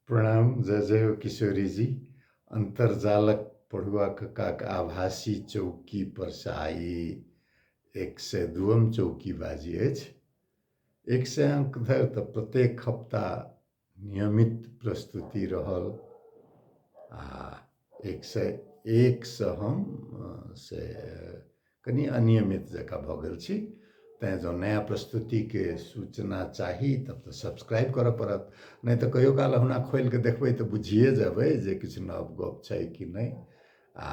प्रणाम जय जय हो किशोरी जी अन्तर्जालक पढ़ुआ कक्काक आभासी चौकी पर से आइ एक सय दुअम चौकी बाजी अछि एक सय अङ्क धरि तऽ प्रत्येक हप्ता नियमित प्रस्तुति रहल आ एक सए एकसँ हम से कनि अनियमित जकाँ भऽ गेल छी तैँ जँ नया प्रस्तुतिके सूचना चाही तब तऽ सब्सक्राइब करऽ पड़त नहि तऽ कहियो काल ओहुना खोलि कऽ देखबै तऽ बुझिये जेबै जे किछु नव गप छै कि नहि आ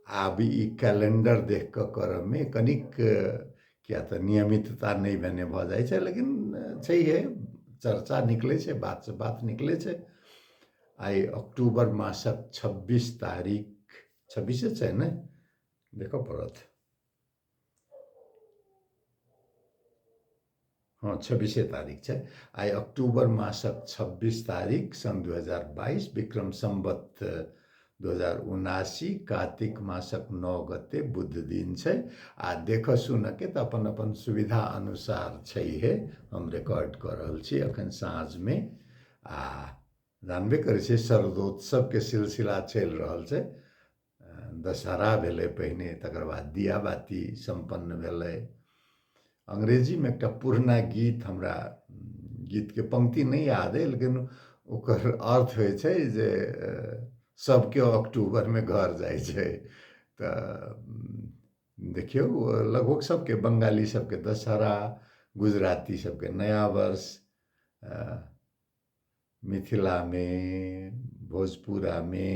आब ई कैलेंडर देख कऽ करऽमे कनिक किया तऽ नियमितता नहि भेने भऽ जाइ छै लेकिन छैहे चर्चा निकलै छै बातसँ बात निकलै छै आइ अक्टूबर मासक छब्बीस तारीख छब्बीसे छै ने देखऽ पड़त हँ छब्बीसे तारीख छै आइ अक्टूबर मासक छब्बीस तारीख सन् दू हजार बाइस विक्रम सम्बत दू हजार उनासी कातिक मासक नओ गते बुध दिन छै आ देखऽ सुनऽके तऽ अपन अपन सुविधा अनुसार छै हे हम रिकॉर्ड कऽ रहल छी एखन साँझमे आ जानबे करै छै शरदोत्सवके सिलसिला चलि रहल छै दशहरा भेलै पहिने तकर बाद दिया बाती सम्पन्न भेलै अंग्रेजीमे एकटा पुरना गीत हमरा गीतके पंक्ति नहि याद अइ लेकिन ओकर अर्थ होइ छै जे सभके अक्टूबरमे घर जाइ छै तऽ देखियौ लगभग सभके बंगाली सभके दशहरा गुजराती सभके नया वर्ष मिथिलामे भोजपुरामे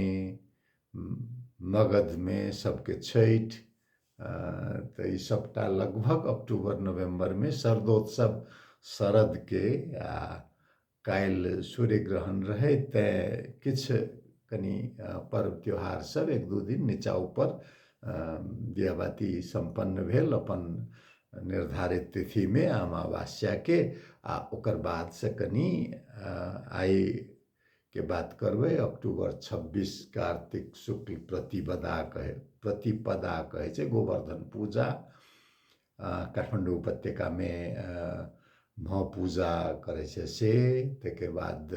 मगधमे सबके छठि तऽ ई सबटा लगभग अक्टूबर नवम्बरमे शरदोत्सव शरदके आ काल्हि सूर्य ग्रहण रहै तैँ किछु कनि पर्व त्यौहार सब एक दू दिन नीचाँ उपर दिया बाती सम्पन्न भेल अपन निर्धारित तिथिमे अमावस्याके आ ओकर बादसँ कनि आइके बात करबै अक्टूबर छब्बीस कार्तिक शुक्ल प्रतिपदा कहै प्रतिपदा कहै छै गोवर्धन पूजा काठमाडौँ उपत्यकामे भऽ पूजा करै छै से तकर बाद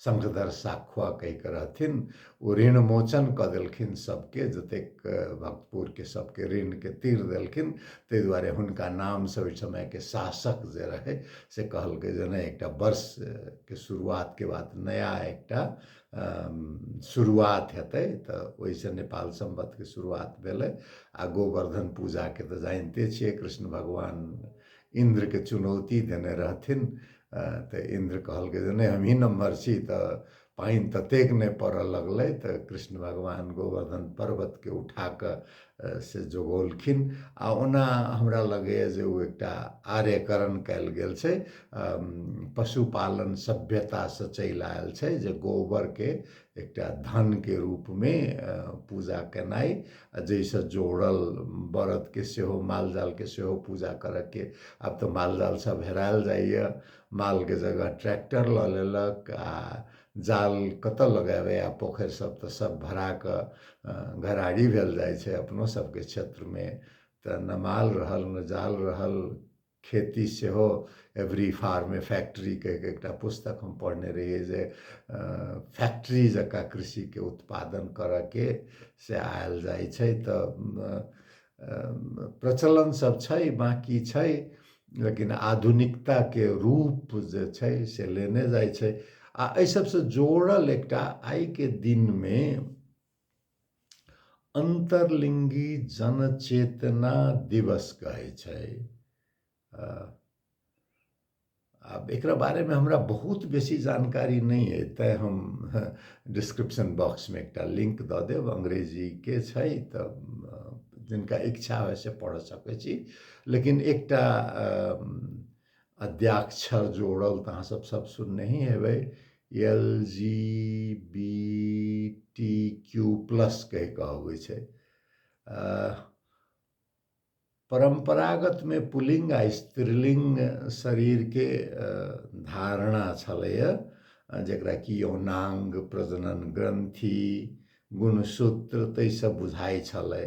शंखधर साखुआ कहिके रहथिन ओ ऋण मोचन कऽ देलखिन सभके जतेक भक्तपुरके सभके ऋणके तीर देलखिन ताहि दुआरे हुनका नामसँ ओहि समयके शासक जे रहै से कहलकै जे नहि एकटा वर्षके शुरुआतके बाद नया एकटा शुरुआत हेतै तऽ ओहिसँ नेपाल सम्बन्धके शुरुआत भेलै आ गोवर्धन पूजाके तऽ जानिते छियै कृष्ण भगवान इन्द्रके चुनौती देने रहथिन तऽ इन्द्र कहलकै जे नहि हमही नम्हर छी तऽ पानि ततेक नहि पड़ऽ लगलै तऽ कृष्ण भगवान गोवर्धन पर्वतके उठा कऽ से जोगौलखिन आ ओना हमरा लगैए जे ओ एकटा आर्यकरण कयल गेल छै पशुपालन सभ्यतासँ चलि आयल छै जे गोबरके एकटा धनके रूपमे पूजा केनाइ आ जाहिसँ जोड़ल बरदके सेहो माल जालके सेहो पूजा करऽके आब तऽ माल जाल सभ हेरायल जाइए मालके जगह ट्रैक्टर लऽ लेलक आ जाल कतऽ लगायबै आब पोखरि सभ तऽ सभ भरा कऽ घराड़ी भेल जाइ छै अपनो सभके क्षेत्रमे तऽ ने माल रहल ने जाल रहल खेती सेहो एवरी फार्म ए फैक्ट्री कहि कऽ एकटा पुस्तक हम पढ़ने रहियै जे फैक्ट्री जकाँ कृषिके उत्पादन करयके से आयल जाइ छै तऽ प्रचलन सब छै बाँकी छै लेकिन आधुनिकताके रूप जे छै से लेने जाइ छै आ एहि सबसँ जोड़ल एकटा आइके दिनमे अन्तर्लिङ्गी जनचेतना दिवस कहै छै आब एकरा बारेमे हमरा बहुत बेसी जानकारी नहि अइ तैँ हम डिस्क्रिप्शन बॉक्समे एकटा लिंक दऽ देब अंग्रेजीके छै तऽ जिनका इच्छा होइ से पढ़ सकै छी लेकिन एकटा अद्याक्षर जोड़ल तऽ अहाँसभ सभ सुनने ही हेबै L G B T Q plus कहि कऽ अबै छै परम्परागतमे पुलिङ्ग आ स्त्रीलिङ्ग शरीरके धारणा छलैए जकरा कि यौनाङ्ग प्रजनन ग्रन्थि गुणसूत्र ताहिसँ बुझाइ छलै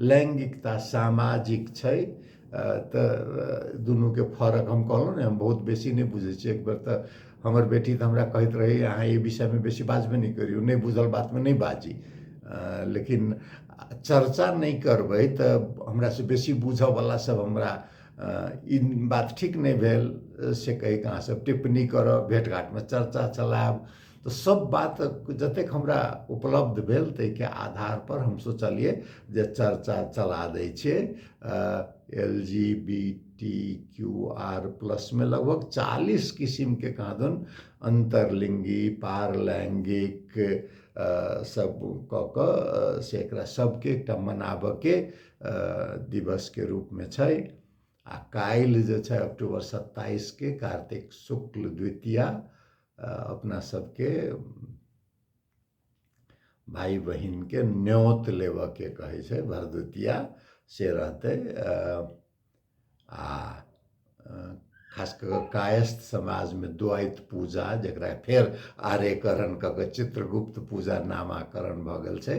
लैंगिकता सामाजिक छै तऽ दुनूके फरक हम कहलहुँ ने हम बहुत बेसी नहि बुझै छियै एक बेर तऽ हमर बेटी तऽ हमरा कहैत रहै अहाँ एहि विषयमे बेसी बाजबे नहि करियौ नहि बुझल बातमे नहि बाजी लेकिन चर्चा नहि करबै तऽ हमरासँ बेसी बुझयवला सभ हमरा ई बात ठीक नहि भेल से कहि कऽ अहाँसभ टिप्पणी करब भेँट घाँटमे चर्चा चलायब तऽ सब बात जतेक हमरा उपलब्ध भेल ताहिके आधार पर हम सोचलिए जे चर्चा चला दै छियै L G B T Q R plus मे लगभग चालीस किसिम के कहाँ दन अन्तर्लिङ्गी पारलैङ्गिक सब कऽ कऽ से एकरा सबके एकटा मनाबऽके दिवस के रूप मे छै आ काल्हि जे छै अक्टूबर सत्ताइस के कार्तिक शुक्ल द्वितीया अपना सबके भाइ बहिनके न्योत लेबऽके कहै छै भरदुतिया से रहतै आ खास कऽ कऽ कायस्थ समाजमे द्वैत पूजा जकरा फेर आर्यकरण कऽ कऽ चित्रगुप्त पूजा नामाकरण भऽ गेल छै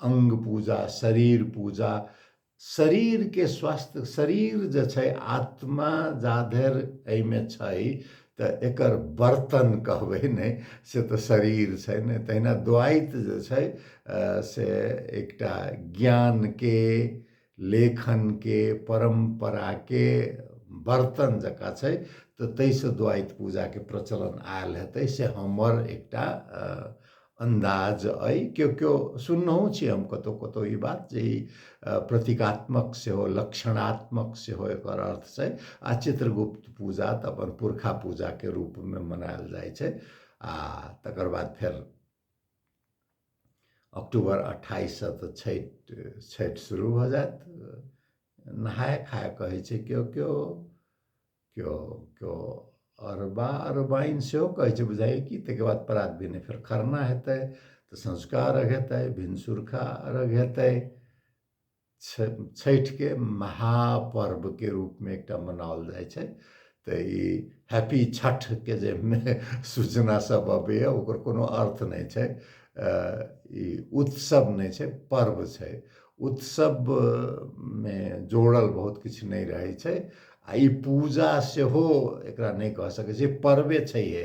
अंग पूजा शरीर पूजा शरीर के स्वस्थ शरीर जे छै आत्मा जाधर एहिमे छै तऽ एकर बर्तन कहबै नहि से तऽ शरीर छै ने तहिना द्वैत जे छै से एकटा ज्ञानके लेखन के परम्परा के बर्तन जका छै तऽ तै से द्वाइत पूजा के प्रचलन आयल हेतै से हमर एकटा अन्दाज अइ केओ केओ सुननहो छी हम कतौ कतौ ई बात जे ई प्रतीकात्मक सेहो लक्षणात्मक सेहो एकर अर्थ छै आ चित्रगुप्त पूजा तऽ अपन पुरखा पूजा के रूप में मनायल जाइ छै आ तकर बाद फेर अक्टूबर अट्ठाइससँ तऽ छठि छठि शुरू भऽ जायत नहाय खाय कहै छै केओ केओ केओ केओ अरबा अरबाइन सेहो कहै छै बुझाइए कि ताहिके बाद प्रात भेने फेर खरना हेतै तऽ सँझुका अर्घ हेतै भिनसुरका अर्घ हेतै छठिके महापर्वके रूपमे एकटा मनाओल जाइ छै तऽ ई हैप्पी छठके जे सूचना सब अबैए ओकर कोनो अर्थ नहि छै ई उत्सव नहि छै पर्व छै उत्सवमे जोड़ल बहुत किछु नहि रहै छै आओर ई पूजा सेहो एकरा नहि कहि सकै छिए पर्वे छैहे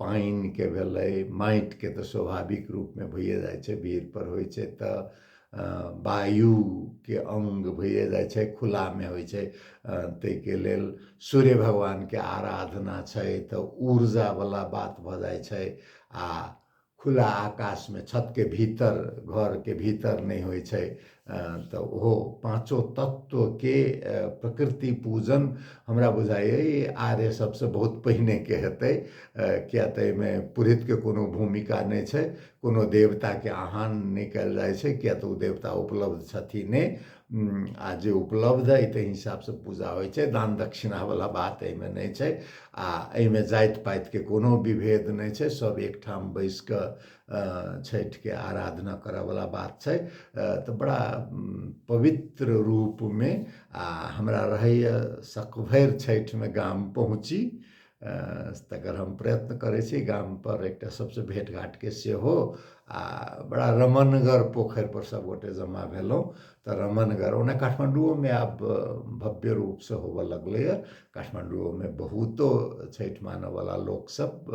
पानिके भेलै माटिके तऽ स्वाभाविक रूपमे भइए जाइ छै भीड़पर होइ छै तऽ वायुके अङ्ग भइए जाइ छै खुलामे होइ छै ताहिके लेल सूर्य भगवानके आराधना छै तऽ ऊर्जावला बात भऽ जाइ छै आ खुला आकाशमे छतके भीतर घरके भीतर नहि होइ छै तऽ ओहो पाँचो तत्वके प्रकृति पूजन हमरा बुझाइए आर्य सभसँ बहुत पहिनेके हेतै किया तऽ एहिमे पुरोहितके कोनो भूमिका नहि छै कोनो देवताके आह्वान नहि कयल जाइ छै किया तऽ ओ देवता उपलब्ध छथिन नहि आ जे उपलब्ध अइ ताहि हिसाबसँ पूजा होइ छै दान दक्षिणावला बात एहिमे नहि छै आ एहिमे जाति पातिके कोनो विभेद नहि छै सभ एकठाम बैसि कऽ छठिके आराधना करऽवला बात छै तऽ बड़ा पवित्र रूपमे आ हमरा रहैए शक भरि छठिमे गाम पहुँची तकर हम प्रयत्न करै छी गामपर एकटा सबसँ भेट घाटके सेहो आ बड़ा रमनगर पोखरिपर सभगोटे जमा भेलहुँ तऽ रमनगर ओना काठमाण्डुओमे आब भव्य रूपसँ होबऽ लगलैए काठमाण्डुओमे बहुतो छठि मानऽवला लोकसभ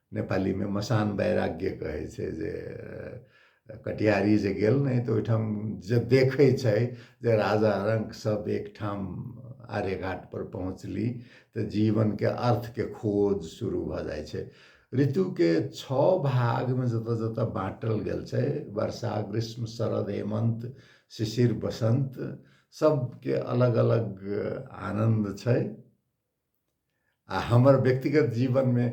नेपालीमे मसान वैराग्य कहै छै जे कटिहारी जे गेल नहि तऽ ओहिठाम जे देखै छै जे राजा रंक सब एकठाम आर्यघाट पर पहुँचली तऽ जीवनके अर्थके खोज शुरू भऽ जाइ छै ऋतुके छओ भागमे जतऽ जतऽ बाँटल गेल छै वर्षा ग्रीष्म शरद हेमंत शिशिर बसंत सबके अलग अलग आनन्द छै आ हमर व्यक्तिगत जीवनमे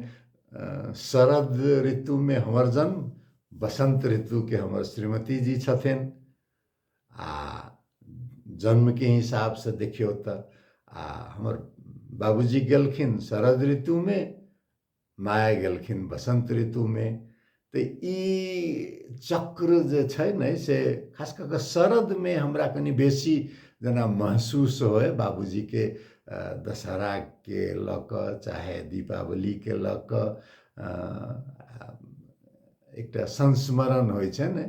शरद ऋतुमे हमर जन्म बसन्त ऋतुके हमर श्रीमती जी छथिन आ जन्मके हिसाबसँ देखियौ तऽ आ हमर बाबूजी गेलखिन शरद ऋतुमे माया गेलखिन बसन्त ऋतुमे तऽ ई चक्र जे छै ने से खास कऽ कऽ शरदमे हमरा कनि बेसी जेना महसूस होय बाबूजीके दशहराके लऽ कऽ चाहे दीपावलीके लऽ कऽ एकटा संस्मरण होइ छै ने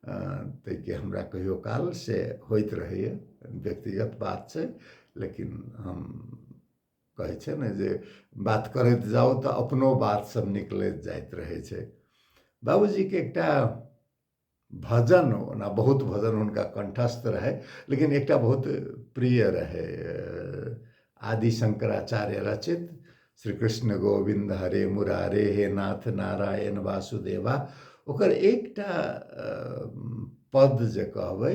ताहिके हमरा कहियो काल से होइत रहैए व्यक्तिगत बात छै लेकिन हम कहै छै ने जे बात करैत जाउ तऽ अपनो बात सब निकलैत जाइत रहै छै बाबूजीके एकटा भजन ओना बहुत भजन हुनका कंठस्थ रहै लेकिन एकटा बहुत प्रिय रहै आदि शंकराचार्य रचित श्री कृष्ण गोविंद हरे मुरारे हे नाथ नारायण वासुदेवा ओकर एकटा पद जे कहबै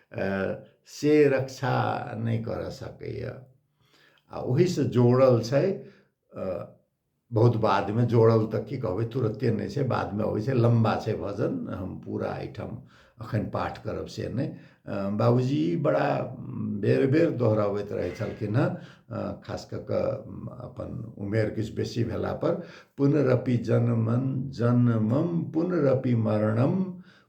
से रक्षा नहि करऽ सकैए आ ओहिसँ जोड़ल छै बहुत बादमे जोड़ल तऽ की कहबै तुरते नहि छै बादमे अबै छै लम्बा छै भजन हम पूरा एहिठाम अखन पाठ करब से नहि बाबूजी बड़ा बेर बेर दोहराबैत रहै छलखिन हँ खास कऽ कऽ अपन उमेर किछु बेसी भेला पर पुनरपि जनमन जनमम पुनरपि मरणम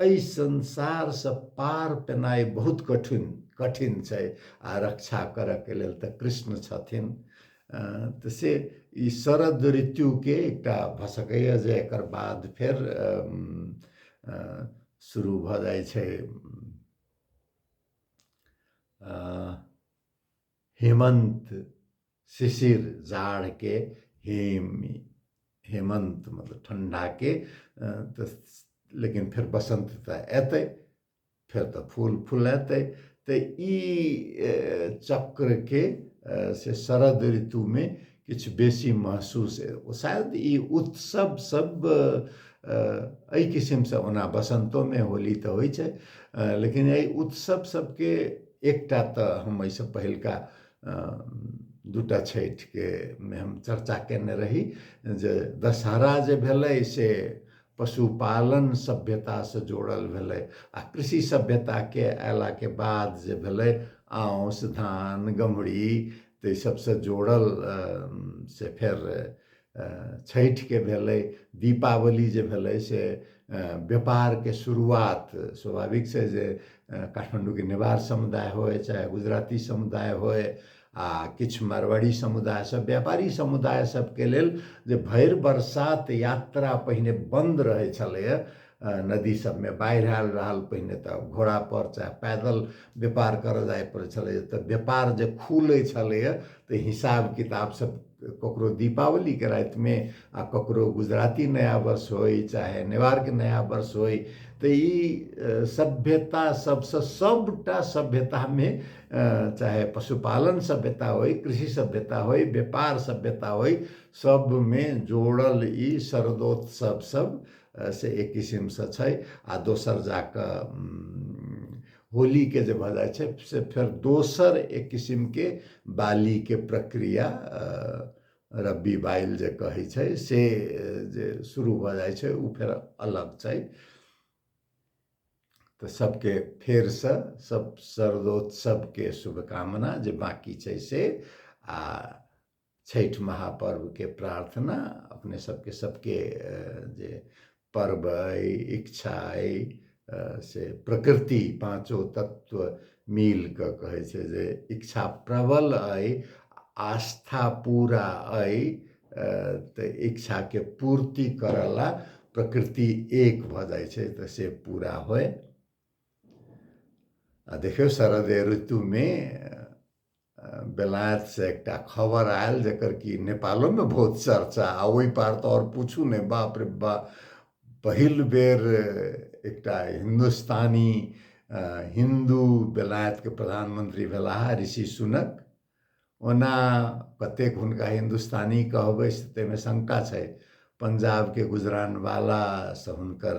एहि संसारसँ पार पेनाइ बहुत कठिन कठिन छै आ रक्षा करयके लेल तऽ कृष्ण छथिन तऽ से ई शरद ऋतुके एकटा भऽ सकैए जे एकर बाद फेर शुरू भऽ जाइ छै हेमन्त शिशिर जाड़के हेम हेमन्त मतलब ठण्डाके तऽ लेकिन फेर बसन्त तऽ अयतै फेर तऽ फूल फुलेतै तऽ ई चक्रके से शरद ऋतुमे किछु बेसी महसूस शायद ई उत्सव सब एहि किसिमसँ ओना बसन्तोमे होली तऽ होइ छै लेकिन एहि उत्सव सबके एकटा तऽ हम एहिसँ पहिलका दूटा छठिके मे हम चर्चा केने रही जे दशहरा जे भेलै से पशुपालन सभ्यतासँ जोड़ल भेलै आ कृषि सभ्यताके अयलाके बाद जे भेलै आँस धान गमरी तऽ ई सबसँ जोड़ल से फेर छठिके भेलै दीपावली जे भेलै से व्यापारके शुरुआत स्वाभाविक छै जे काठमाण्डूके नेवार समुदाय होय चाहे गुजराती समुदाय होय आ किछु मारवाड़ी समुदाय सब व्यापारी समुदाय सबके लेल जे भरि बरसात यात्रा पहिने बन्द रहै छलैए नदी सबमे बाढ़ि आयल रहल पहिने तऽ घोड़ा पर चाहे पैदल व्यापार करऽ जाय पड़ै छलै तऽ व्यापार जे खुलै छलैए तऽ हिसाब किताब सब ककरो दीपावलीके रातिमे आ ककरो गुजराती नया वर्ष होइ चाहे नेवारके नया वर्ष होइ तऽ ई सभ्यता सबसँ सबटा सभ्यतामे चाहे पशुपालन सभ्यता होइ कृषि सभ्यता होइ व्यापार सभ्यता होइ सबमे जोड़ल ई शरदोत्सव सब से एक किसिमसँ छै आ दोसर जा कऽ होलीके जे भऽ जाइ छै से फेर दोसर एक किसिमके बालीके प्रक्रिया रब्बी बाइल जे कहै छै से जे शुरू भऽ जाइ छै ओ फेर अलग छै तऽ सभके फेरसँ सभ सर्वोत्सवके शुभकामना जे बाँकी छै से आ छठि महापर्वके प्रार्थना अपने सबके सबके जे पर्व अइ इच्छा अइ से प्रकृति पाँचो तत्व मिल कऽ कहै छै जे इच्छा प्रबल अइ आस्था पूरा अइ तऽ इच्छाके पूर्ति करऽ ला प्रकृति एक भऽ जाइ छै तऽ से पूरा होय आ देखियौ शरद ऋतुमे बेलायतसँ एकटा खबर आयल जकर कि नेपालोमे बहुत चर्चा आ ओहि पार तऽ आओर पूछू नहि बाप रे बा पहिल बेर एकटा हिन्दुस्तानी हिन्दू बेलायतके प्रधानमंत्री भेलाह ऋषि सुनक ओना कतेक हुनका हिन्दुस्तानी कहबै से ताहिमे शंका छै पंजाबके गुजरानवालासँ हुनकर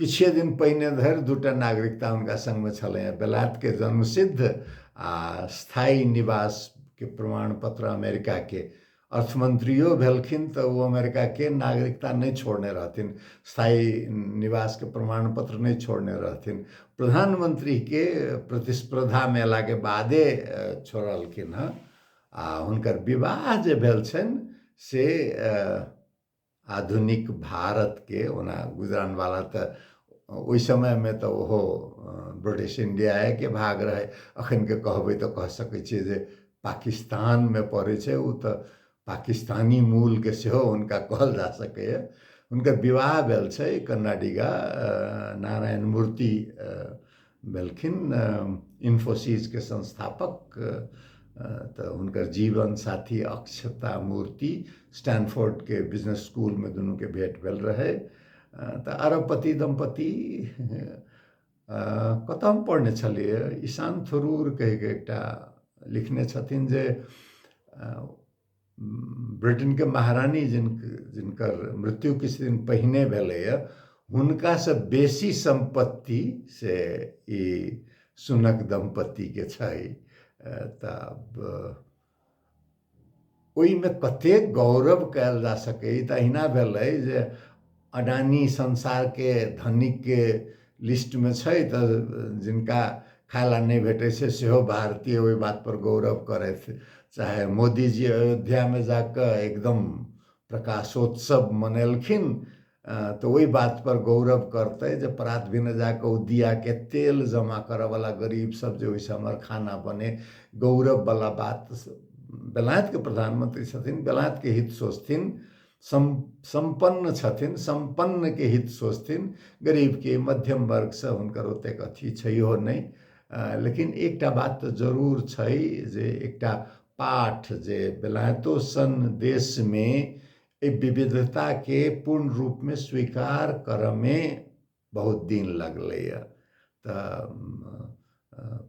किछे दिन पहिने धरि दूटा नागरिकता हुनका सङ्गमे छलैए बेलायतके जन्मसिद्ध आ स्थायी निवासके प्रमाण पत्र अमेरिकाके अर्थमन्त्रियो भेलखिन तऽ ओ अमेरिकाके नागरिकता नहि छोड़ने रहथिन स्थायी निवासके प्रमाण पत्र नहि छोड़ने रहथिन प्रधानमन्त्रीके प्रतिस्पर्धामे अयलाके बादे छोड़लखिन हँ आ हुनकर विवाह जे भेल छनि से आधुनिक भारतके ओना गुजरानवाला तऽ ओहि समयमे तऽ ओहो ब्रिटिश इण्डियाएके भाग रहै अखनके कहबै तऽ कह सकै छियै जे पाकिस्तानमे पड़ै छै ओ तऽ पाकिस्तानी मूलके सेहो हुनका कहल जा सकैए हुनकर विवाह भेल छै कन्नाडिगा नारायण मूर्ति भेलखिन इन्फोसिसके संस्थापक तऽ हुनकर जीवन साथी अक्षता मूर्ति स्टैनफोर्डके बिजनेस स्कूलमे दुनूके भेट भेल रहै तऽ अरबपति दम्पति कतऽ हम पढ़ने छलियै ईशान थरूर कहिके एकटा लिखने छथिन जे ब्रिटेनके महारानी जिन जिनकर मृत्यु किछु दिन पहिने भेलैए हुनकासँ बेसी सम्पत्ति से ई सुनक दम्पतिके छै तऽ ओहिमे कतेक गौरव कयल जा सकैए ई तऽ अहिना भेलै जे अडानी संसारके धनिकके लिस्टमे छै तऽ जिनका खाय ला नहि भेटै छै सेहो भारतीय ओहि बात पर गौरव करथि चाहे मोदीजी अयोध्यामे जाकऽ एकदम प्रकाशोत्सव मनेलखिन तऽ ओहि बात पर गौरव करतै जे प्रात भिने जाकऽ ओ दियाके तेल जमा करऽ वाला गरीब सब जे ओहिसँ हमर खाना बने गौरव बला बात बेलायतके प्रधानमंत्री छथिन बेलायतके हित सोचथिन सम सम्पन्न छथिन सम्पन्नके हित सोचथिन गरीबके मध्यम वर्गसँ हुनकर ओतेक अथी छैहो नहि लेकिन एकटा बात तऽ जरूर छै जे एकटा पाठ जे बेलायतो सन देशमे एहि विविधताके पूर्ण रूपमे स्वीकार करयमे बहुत दिन लगलैए तऽ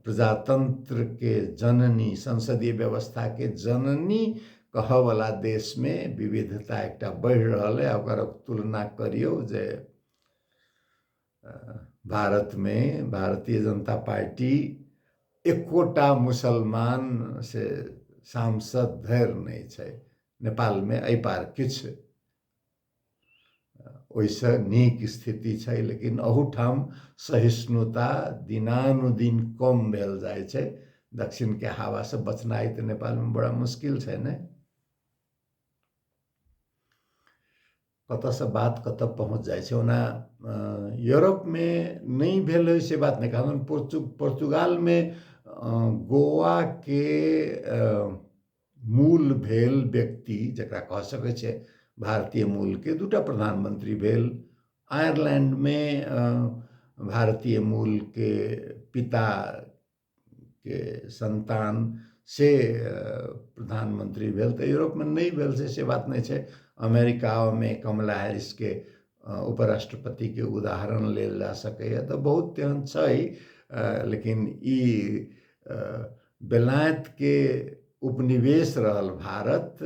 प्रजातन्त्रके जननी संसदीय व्यवस्थाके जननी कहऽवला देशमे विविधता एकटा बढ़ि रहल अइ ओकर तुलना करियौ जे भारतमे भारतीय जनता पार्टी एकोटा मुसलमान से सांसद धरि नहि छै नेपालमे एहि पार किछु ओहिसँ नीक स्थिति छै लेकिन अहूठाम सहिष्णुता दिनानुदिन कम भेल जाइ छै दक्षिणके हवासँ बचनाइ तऽ नेपालमे बड़ा मुश्किल छै ने कतऽसँ बात कतऽ पहुँच जाइ छै ओना यूरोपमे नहि भेल होइ से बात नहि कहलहुँ पोर्चु पोर्चुगालमे गोवाके मूल भेल व्यक्ति जकरा कह सकै छै भारतीय मूल के दूटा प्रधानमंत्री भेल आयरलैंड मे भारतीय मूल के पिता के संतान से प्रधानमंत्री भेल तऽ यूरोप मे नहि भेल से से बात नहि छै अमेरिका मे कमला हैरिस के उपराष्ट्रपति के उदाहरण लेल जा सकैया तऽ बहुत एहन छै लेकिन ई बेलायतके उपनिवेश रहल भारत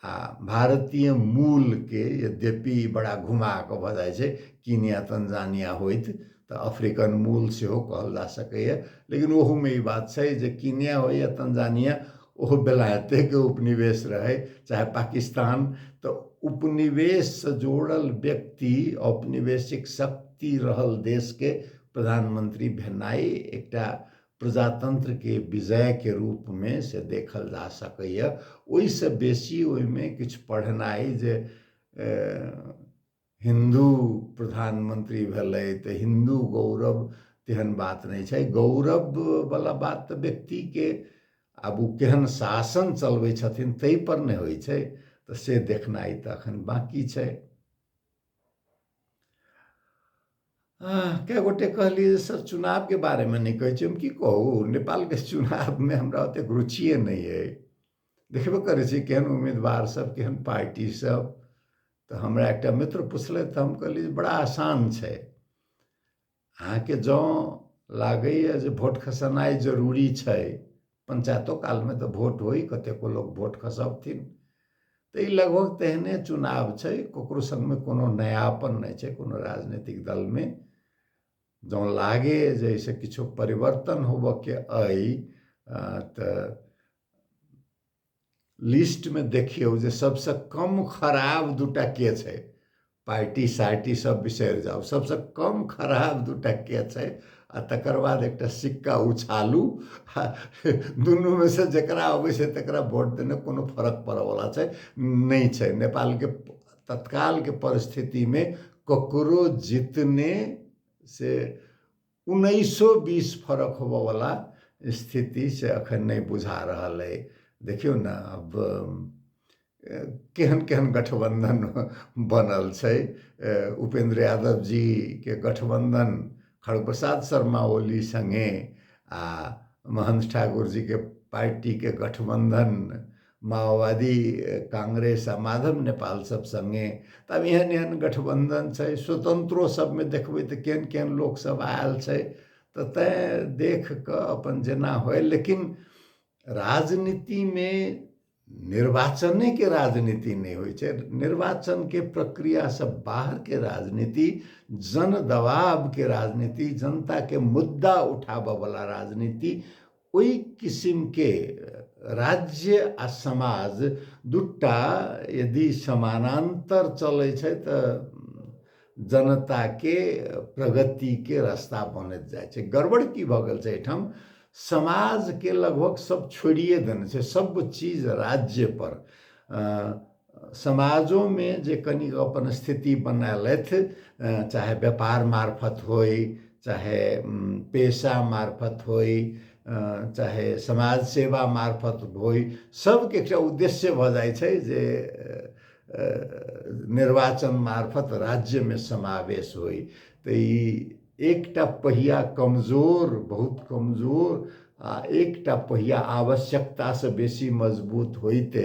आ भारतीय मूलके यद्यपि बड़ा घुमा कऽ भऽ जाइ छै कीनिया तंजानिया होइत तऽ अफ्रीकन मूल सेहो कहल जा सकैए लेकिन ओहूमे ई बात छै जे कीनिया हो या तंजानिया ओहो बेलायतेके उपनिवेश रहै चाहे पाकिस्तान तऽ उपनिवेशसँ जोड़ल व्यक्ति औपनिवेशिक शक्ति रहल देशके प्रधानमंत्री भेनाइ एकटा प्रजातंत्र के विजय के रूप में से देखल जा सकैए ओहिसँ बेसी ओहिमे किछु पढ़नाइ जे हिन्दू प्रधानमंत्री भेलै तऽ हिन्दू गौरव तेहन बात नहि छै गौरववला बात तऽ व्यक्तिके आब ओ केहन शासन चलबै छथिन ताहिपर ने होइ छै तऽ से देखनाइ तऽ एखन बाँकी छै कए गोटे कहलियै सर चुनावके बारेमे नहि कहै छी हम की कहू नेपालके चुनावमे हमरा ओतेक रुचिए नहि अइ देखबे करै छी केहन उम्मीदवारसभ केहन पार्टीसभ तऽ हमरा एकटा मित्र पुछलथि तऽ हम कहलियै बड़ा आसान छै अहाँके जँ लागैए जे वोट खसेनाइ जरूरी छै पञ्चायतो कालमे तऽ वोट होइ कतेको लोक वोट खसबथिन तऽ ई लगभग तेहने चुनाव छै ककरो सङ्गमे कोनो नयापन नहि छै कोनो राजनीतिक दलमे जँ लागे जे एहिसँ किछो परिवर्तन होबयके अइ तऽ लिस्टमे देखियौ जे सभसँ कम खराब दू टा के छै पार्टी सार्टी सभ बिसरि जाउ सभसँ कम खराब दू टा के छै आ तकर बाद एकटा सिक्का उछालू आ दुनूमे से जकरा अबै छै तकरा वोट देने कोनो फरक पड़यवला छै नहि छै नेपालके तत्कालके परिस्थितिमे ककरो जितने से उन्नैसो बीस फरक होबऽवला स्थिति से अखन नहि बुझा रहल अइ देखियौ ने आब केहन केहन गठबन्धन बनल छै उपेन्द्र यादव जीके गठबन्धन खड़ग प्रसाद शर्मा ओली सङ्गे आ महन्थ ठाकुर जीके पार्टीके गठबन्धन माओवादी कांग्रेस आ माधव नेपाल सब संगे तब एहन एहन गठबंधन छै स्वतंत्रो सबमे देखबै तऽ केहन केहन लोक सब आयल छै तऽ तैं देख कऽ अपन जेना होय लेकिन राजनीतिमे निर्वाचनेके राजनीति नहि होइ छै निर्वाचनके प्रक्रियासँ बाहरके राजनीति जन दबावके राजनीति जनताके मुद्दा उठाबयवला राजनीति ओहि किसिमके राज्य आ समाज दुटा यदि समानान्तर चलै छै तऽ जनताके प्रगतिके रास्ता बनैत जाइ छै गड़बड़ की भऽ गेल छै एहिठाम समाजके लगभग सब छोड़िए देने छै सब चीज राज्यपर समाजोमे जे कनिक अपन स्थिति बनेलथि चाहे व्यापार मार्फत होइ चाहे पेशा मार्फत होइ चाहे समाज सेवा मार्फत होइ सबके एकटा उद्देश्य भऽ जाइ छै जे निर्वाचन मार्फत राज्यमे समावेश होइ तऽ ई एकटा पहिया कमजोर बहुत कमजोर आ एकटा पहिया आवश्यकतासँ बेसी मजबूत होइते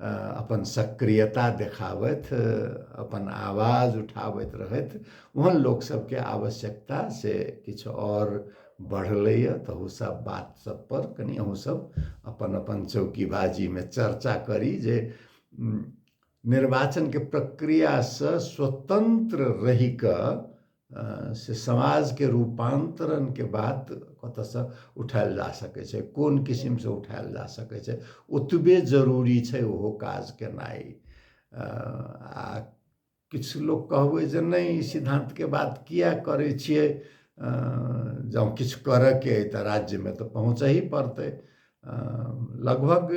अपन सक्रियता देखाबथि अपन आवाज उठाबैत रहथि ओहन लोकसभके आवश्यकता से किछु आओर बढ़लैए तऽ ओसभ बात सभपर कनि अहूँसभ अपन अपन चौकीबाजीमे चर्चा करी जे निर्वाचनके प्रक्रियासँ स्वतन्त्र रहि कऽ से समाजके रूपान्तरणके बात कतऽसँ उठायल जा सकै छै कोन किसिमसँ उठायल जा सकै छै ओतबे जरूरी छै ओहो काज केनाइ आ किछु लोक कहबै जे नहि ई सिद्धान्तके बात किए करै छियै जँ किछु करयके अइ तऽ राज्यमे तऽ पहुँचही पड़तै लगभग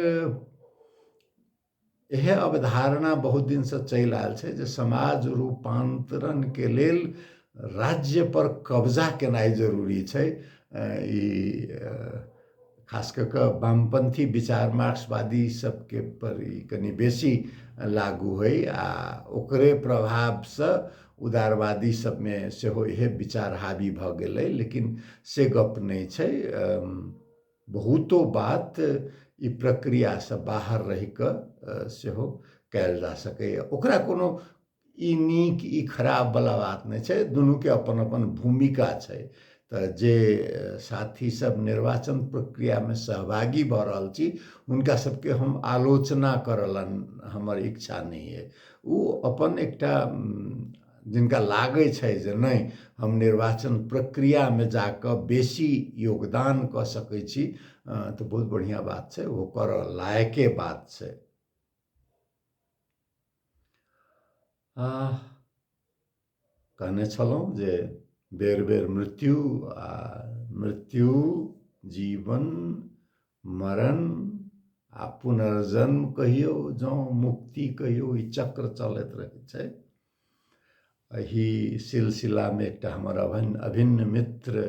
इहे अवधारणा बहुत दिन से चलि आयल छै जे समाज रूपांतरण के लेल राज्य पर कब्जा केनाई जरूरी छै ई खास कऽ कऽ वामपंथी विचार मार्क्सवादी सबके पर ई कनि बेसी लागू होइ आ ओकरे प्रभाव से उदारवादी सबमे सेहो इहे विचार हावी भऽ गेलै लेकिन से गप नहि छै बहुतो बात ई प्रक्रियासँ बाहर रहि कऽ सेहो कयल जा सकैए ओकरा कोनो ई नीक ई खराबवला बात नहि छै दुनूके अपन अपन भूमिका छै तऽ जे साथी सब निर्वाचन प्रक्रियामे सहभागी भऽ रहल छी हुनका सबके हम आलोचना करलन हमर इच्छा नहि अइ ओ अपन एकटा जिनका लागै छै जे नहि हम निर्वाचन प्रक्रियामे जा कऽ बेसी योगदान कऽ सकै छी तऽ बहुत बढ़िआँ बात छै ओ करऽ लायके बात छै कहने छलहुँ जे बेर बेर मृत्यु आ मृत्यु जीवन मरण आ पुनर्जन्म कहियो जँ मुक्ति कहियो ई चक्र चलैत रहैत छै एहि सिलसिलामे एकटा हमर अभिन्न अभिन्न मित्र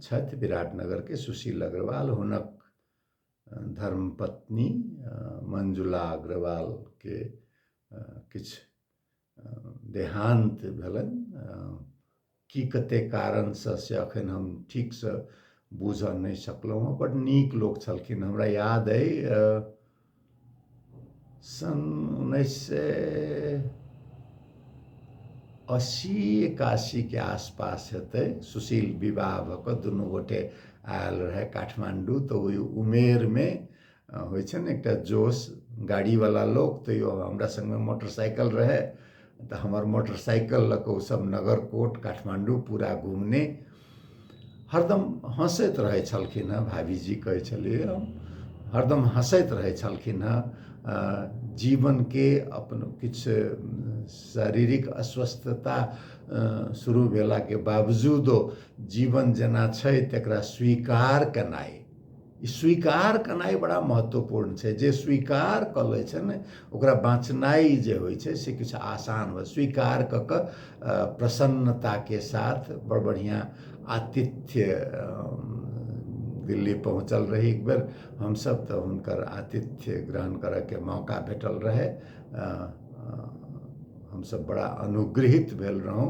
छथि विराटनगरके सुशील अग्रवाल हुनक धर्मपत्नी मंजुला अग्रवालके किछु देहान्त भेलनि की कते कारणसँ से अखन हम ठीकसँ बुझऽ नहि सकलहुँ हँ बड नीक लोक छलखिन हमरा याद अइ सन उन्नैस सए अस्सी एकासीके आसपास हेतै सुशील विवाह भऽ कऽ दुनू गोटे आयल रहै काठमाण्डू तऽ ओहि उमेरमे होइ छै ने एकटा जोश गाड़ीवला लोक तैओ हमरा सङ्गमे मोटरसाइकिल रहै तऽ हमर मोटरसाइकिल लऽ कऽ ओसभ नगर कोट काठमाण्डू पूरा घुमने हरदम हँसैत रहै छलखिन हेँ भाभीजी कहै छलियै हम हरदम हँसैत रहै छलखिन हेँ जीवनके अपन किछु शारीरिक अस्वस्थता शुरू भेलाके बावजूदो जीवन जेना छै तकरा स्वीकार केनाइ स्वीकार केनाइ बड़ा महत्वपूर्ण छै जे स्वीकार कऽ लै छै ने ओकरा बाँचनाइ जे होइ छै से किछु आसान हो स्वीकार कऽ कऽ प्रसन्नताके साथ बड़ बढ़िआँ आतिथ्य दिल्ली पहुँचल रही एक बेर हमसभ तऽ हुनकर आतिथ्य ग्रहण करयके मौका भेटल रहै हमसभ बड़ा अनुगृहित भेल रहौं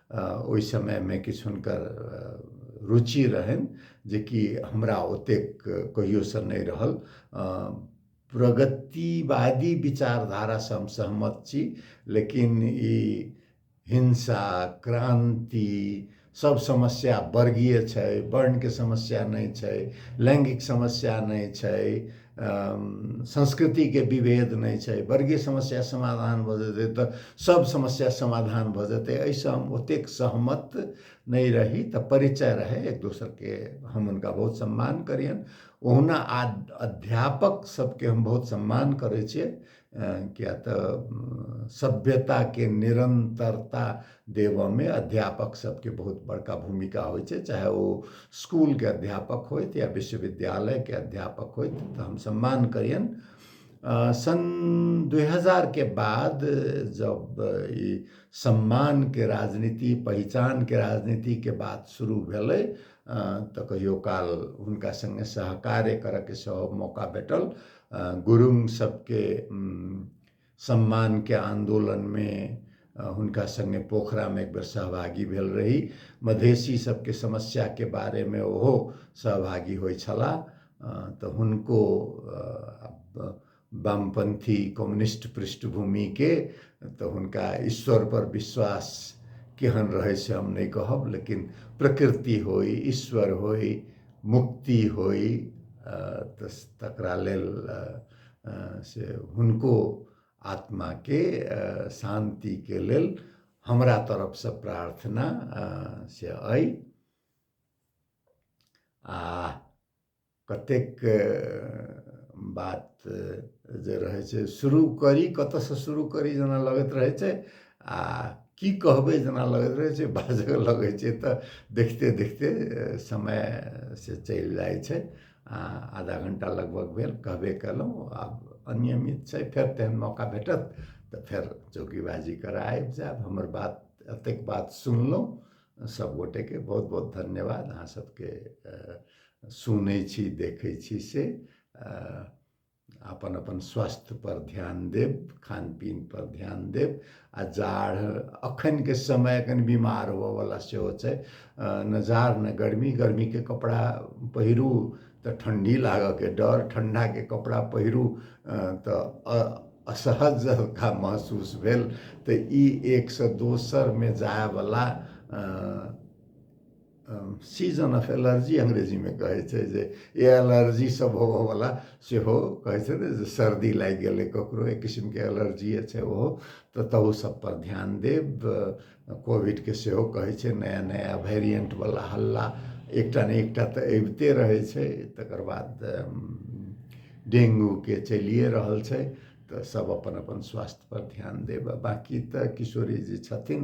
ओहि समयमे किछु हुनकर रुचि रहनि जेकि हमरा ओतेक कहियोसँ नहि रहल प्रगतिवादी विचारधारासँ हम सहमत छी लेकिन ई हिंसा क्रान्ति सब समस्या वर्गीय छै वर्णके समस्या नहि छै लैङ्गिक समस्या नहि छै संस्कृतिके विभेद नहि छै वर्गीय समस्या समाधान भऽ जेतै तऽ सब समस्या समाधान भऽ जेतै एहिसँ हम ओतेक सहमत नहि रही तऽ परिचय रहै एक दोसरके हम हुनका बहुत सम्मान करियनि ओहुना आ अध्यापक सबके हम बहुत सम्मान करै छियै किया तऽ सभ्यताके निरन्तरता देबऽमे अध्यापक सभके बहुत बड़का भूमिका होइ छै चाहे ओ स्कूलके अध्यापक होथि या विश्वविद्यालयके अध्यापक होथि तऽ हम सम्मान करियनि सन् दुइ हजारके बाद जब ई सम्मानके राजनीति पहिचानके राजनीतिके बात शुरू भेलै तऽ कहियो काल हुनका सङ्गे सहकार्य करऽके सेहो मौका भेटल गुरुङ सबके सम्मानके आन्दोलनमे हुनका सङ्गे पोखरामे एक बेर सहभागी भेल रही मधेसी सबके समस्याके बारेमे ओहो सहभागी होइ छलाह तऽ हुनको वामपन्थी कम्युनिस्ट पृष्ठभूमिके तऽ हुनका ईश्वरपर विश्वास केहन रहै से हम नहि कहब लेकिन प्रकृति होइ ईश्वर होइ मुक्ति होइ तऽ तकरा लेल से हुनको आत्माके शान्तिके लेल हमरा तरफसँ प्रार्थना से अइ आ कतेक बात जे रहै छै शुरू करी कतऽसँ शुरू करी जेना लगैत रहै छै आ की कहबै जेना लगैत रहै छै बाजऽ लगै छै तऽ देखते देखते समय से चलि जाइ छै आ आधा घंटा लगभग भेल कहबे कयलहुँ आब अनियमित छै फेर तेहन मौका भेटत तऽ फेर चौकीबाजी करय आबि जायब हमर बात एतेक बात सुनलहुँ सभगोटेके बहुत बहुत धन्यवाद अहाँ सभके सुनै छी देखै छी से अपन अपन स्वास्थ्यपर ध्यान देब खान पीनपर ध्यान देब आ जाड़ एखनके समय कनि बीमार होबयवला सेहो छै ने जाड़ ने गर्मी गर्मीके कपड़ा पहिरू तऽ ठण्डी लागयके डर ठण्डाके कपड़ा पहिरू तऽ अ असहज हल्का महसूस भेल तऽ ई एकसँ दोसरमे जायवला सीजन ऑफ एलर्जी अंग्रेजीमे कहै छै जे ई एलर्जी सब होबऽवला सेहो कहै छै ने जे सर्दी लागि गेलै ककरो एक किसिमके एलर्जिए छै ओहो तऽ तहू सब पर ध्यान देब कोविडके सेहो कहै छै नया नया वेरिएंट बला हल्ला एकटा ने एकटा तऽ अबिते रहै छै तकर बाद डेंगूके चलिए रहल छै तऽ सब अपन अपन स्वास्थ्य पर ध्यान देब आ बाँकी तऽ किशोरी जी छथिन